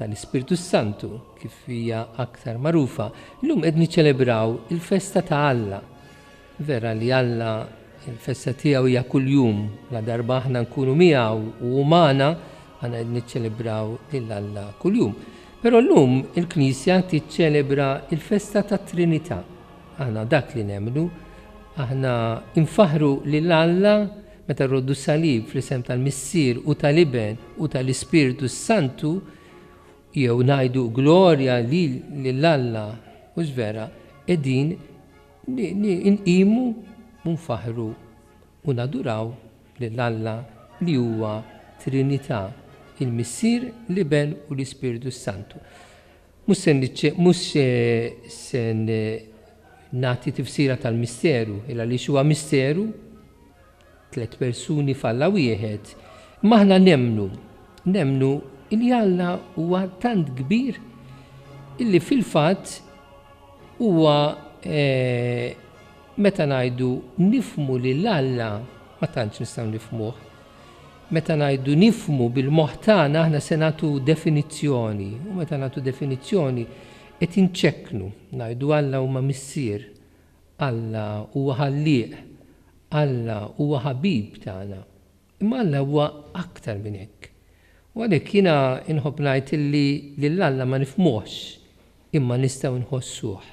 tal-Ispirtu s-Santu, kif hija aktar magħrufa, illum qed niċċelebraw il-festa ta' Alla. Vera li Alla il-festa tiegħu hija kuljum, la darba aħna nkunu miegħu u hu magħna, aħna qed niċċelebraw lil Alla kuljum. Però llum il-Knisja tiċċelebra il-festa tat-Trinità. Aħna dak li nemmnu, aħna infaħru lil Alla Meta rroddu s-salib fl-isem tal-Missier u tal-Iben u tal-Ispirtu s-Santu, jew ngħidu glorja lil Alla, mhux vera, qegħdin inqimu u nfaħħru u naduraw lil Alla li huwa Trinità, il-Missier, l-Iben u l-Ispirtu s-Santu. Mhux se niċċe, mhux se nagħti tifsira tal-misteru, il għaliex huwa misteru, tliet persuni f'Alla wieħed, imma aħna nemmnu, nemmnu li Alla huwa tant kbir illi fil-fatt huwa meta ngħidu nifhmu lil Alla ma tantx nistgħu nifhmuh, Meta ngħidu nifhmu bil-moħħ tagħna aħna se nagħtu definizzjoni u meta nagħtu definizzjoni qed inċekknu. Ngħidu Alla huma Missier, Alla huwa Ħallieq, Alla huwa Ħabib tagħna. Imma Alla huwa aktar minn hekk. U għalhekk jiena inħobb ngħid illi lil Alla ma nifhmuhx imma nistgħu nħossuh.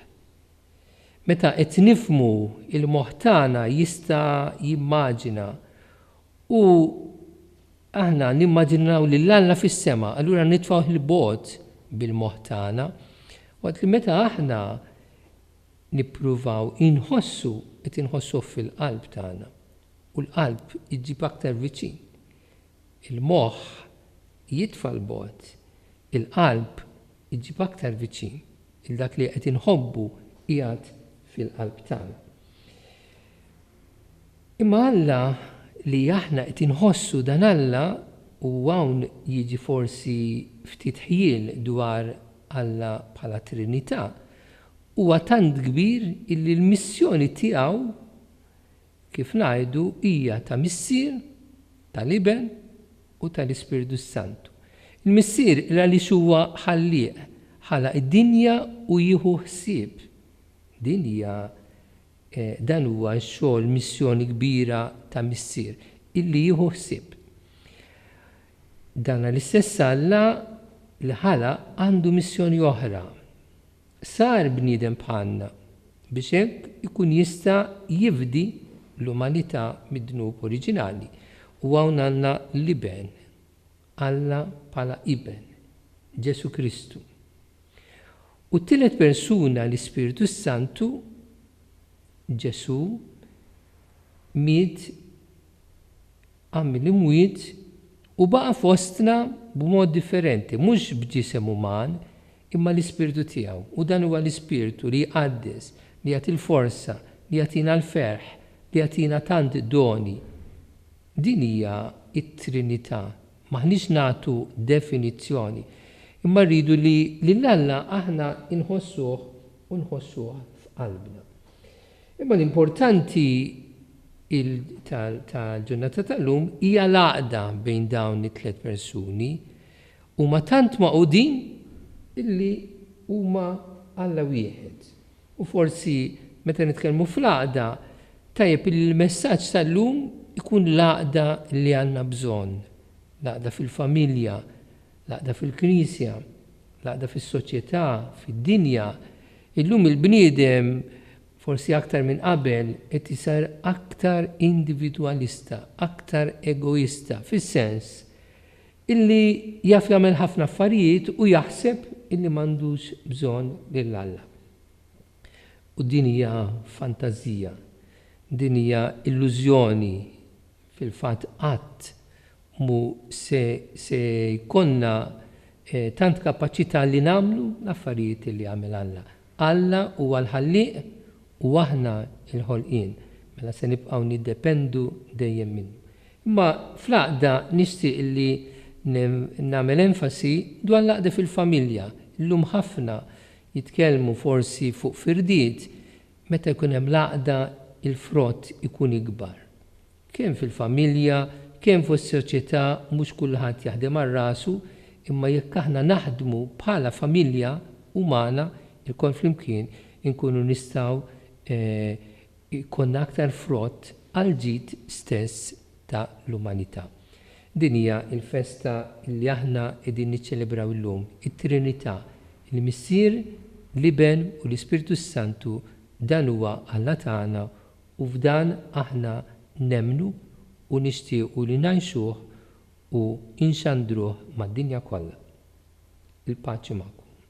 Meta qed nifhmu, il-moħħ tagħna jista' jimmaġina u aħna nimmaġinaw lil Alla fis-sema, allura nitfgħuh 'il bogħod bil-moħħ tagħna. Waqt li meta aħna nippruvaw inħossu, qed inħossuh fil-qalb tagħna. U l-qalb iġġib aktar viċin. Il-moħħ jitfa' 'l bogħod, il-qalb iġġib aktar viċin. il dak li qed inħobbu qiegħed fil-qalb tagħna. Imma Alla li aħna qed inħossu dan Alla u hawn jiġi forsi ftit ħjiel dwar Alla bħala Trinità huwa tant kbir illi l-missjoni tiegħu Kif ngħidu, hija ta' Missier, tal-Iben u tal-Ispirtu s-Santu. Il-Missier għaliex huwa Ħallieq, ħalaq id-dinja u jieħu ħsieb. Din hija, dan huwa x-xogħol missjoni kbira ta' Missier, illi jieħu ħsieb. Dan l-istess Alla li ħalaq għandu missjoni oħra, Sar bniedem bħalna biex hekk ikun jista' jifdi l-umanità mid-dnub oriġinali. U hawn għandna l-Iben, Alla bħala Iben, Ġesù Kristu. U t-tielet persuna, l-Ispirtu s-Santu, Ġesù, miet għamel imwiet u baqa' fostna b'mod differenti, mhux b'ġisem uman, imma l-Ispirtu tiegħu, u dan huwa l-Ispirtu li jqaddes, li jagħti l-forza, li jagħtina l-ferħ, li jagħtina tant doni. Din hija t-Trinità. M'aħniex nagħtu definizzjoni, imma rridu li lil Alla aħna nħossuh u nħossuha f'qalbna. Imma l-importanti tal-ġurnata tal-lum hija l-għaqda bejn dawn it-tliet persuni. Huma tant magħqudin illi huma Alla wieħed. U forsi meta nitkellmu fl-għaqda, tajjeb illi l-messaġġ tal-lum ikun l-għaqda li għandna bżonn, l-għaqda fil-familja, L-għaqda fil-Knisja, l-għaqda fis-soċjetà, fid-dinja. Illum il-bniedem, forsi aktar minn qabel, qed isar aktar individwalista, aktar egoista, fis-sens illi jaf jagħmel ħafna affarijiet u jaħseb illi m'għandux bżonn lil Alla. U din hija fantażija, din hija illużjoni, fil-fatt qatt mhu se se jkollna tant kapaċità li nagħmlu l-affarijiet li għamel Alla. Alla huwa l-Ħallieq u aħna l-ħolqien, mela se nibqgħu niddependu dejjem minnu. Imma fl-għaqda nixtieq li nagħmel enfasi dwar l-għaqda fil-familja. Illum ħafna Jitkellmu forsi fuq firdiet meta jkun hemm l-għaqda il-frott ikun ikbar. Kemm fil-familja, kemm fis-soċjetà mhux kulħadd jaħdem għal rasu imma jekk aħna naħdmu bħala familja umana lkoll flimkien inkunu nistgħu jkollna aktar frott għall-ġid stess ta' l-umanità. Din hija l-festa li aħna qegħdin niċċelebraw illum, it-Trinità, il-Missier, l-Iben u l-Ispirtu s-Santu, dan huwa Alla tagħna u f'dan aħna nemmnu u nixtiequ li ngħixuh u nxandruh mad-dinja kollha. Il-paċi magħkom.